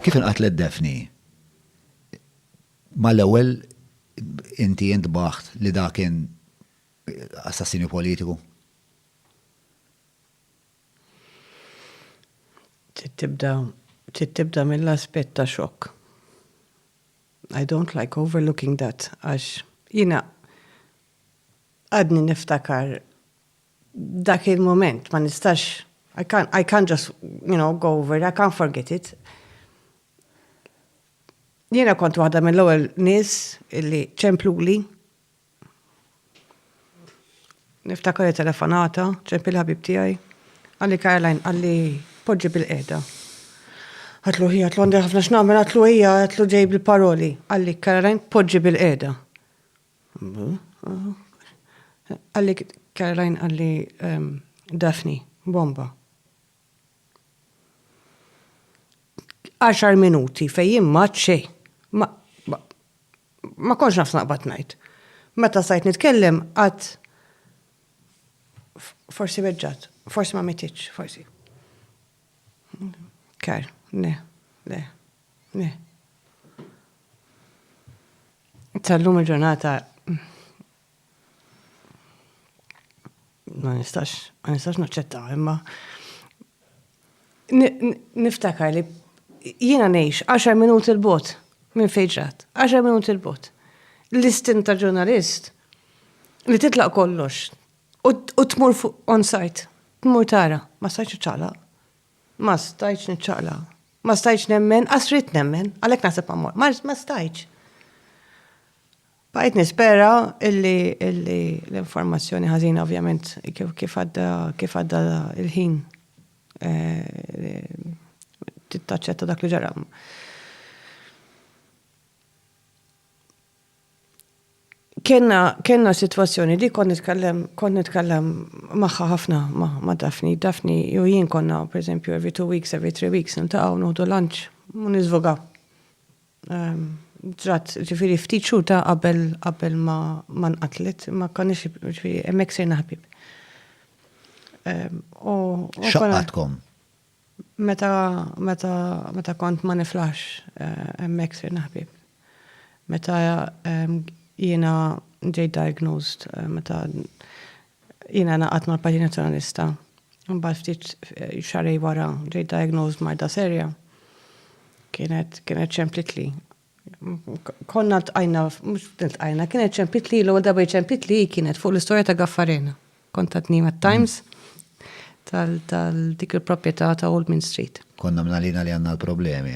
Kif inqatlet Daphne? Mal-ewwel inti intbaħt li dak kien assassinju politiku? Trid tibda, trid tibda mill-aspett ta' xokk. I don't like overlooking that għax jiena għadni niftakar Dak il-mument ma nistax I can't, I can't just, you know, go over it, I can't forget it. Jiena kont waħda mill-ewwel nies illi ċempluli. Niftakar li telefonata, ċempil ħabib tiegħi. Għalli Caroline, għalli poġġi bil-qeda. Għatlu ħija, għatlu għandi ħafna x'nagħmel, għatlu ħija, għatlu ġej bil-paroli. Għalli Caroline, poġġi bil-qeda. Qalli Caroline qalli Daphne, bomba. Għaxar minuti fejn jien ma xejn. Ma konx naf naqbad ngħid. Meta stajt nitkellem qatt forsi weġġat, forsi ma mititx, forsi. Kar, le, le, le. Tal-lum il-ġurnata ma nistax, ma nistax naċċetta, imma niftakar li jiena ngħix 10 minuti l-bot minn fejġrat, 10 minuti l-bot. L-istin ta' ġurnalist li titlaq kollox u tmur fuq on-site, tmur tara, ma sajċu ċala, Ma stajtx niċċaqla'. Ma stajtx nemmen, qas ridt nemmen, għalhekk naħseb ma mmorr. Ma, ma stajtx. Bqajt nispera illi, illi l-informazzjoni ħażina ovvjament kif, kif għadda, kif għadda il-ħin eh, tittaċċetta dak li ġara. Kenna, kenna situazzjoni di kont nitkellem, kont nitkellem magħha ħafna ma' Daphne. Daphne jew jien konna, per eżempju, every two weeks, every three weeks, niltaqgħu nuħdu lunch, u niżvoga. Ehm, ġrat, ġifieri ftit xhur ta' qabel qabel ma ma nqatlet, ma konniex ġifieri hemmhekk sirna ħbieb. Ehm, u. X'għaqqadkom? Meta, meta, meta kont ma niflaħx hemmhekk sirna ħbieb. Meta jiena ġejt diagnosed, meta jiena ngħaqadt mal-Partit Nazzjonalista, imbagħad ftit xahrej wara ġejt diagnosed b'marda serja. Kienet, kienet xemplitli Konna tqajna, mhux tqajna, kienet ċempit li l-ewwel darba ċempit li kienet fuq l-istorja ta' Gaffarena. Kont tatni mat-Times tal-dik il-proprjetà ta' Old Main Street. Konna mnalina li għandna l-problemi.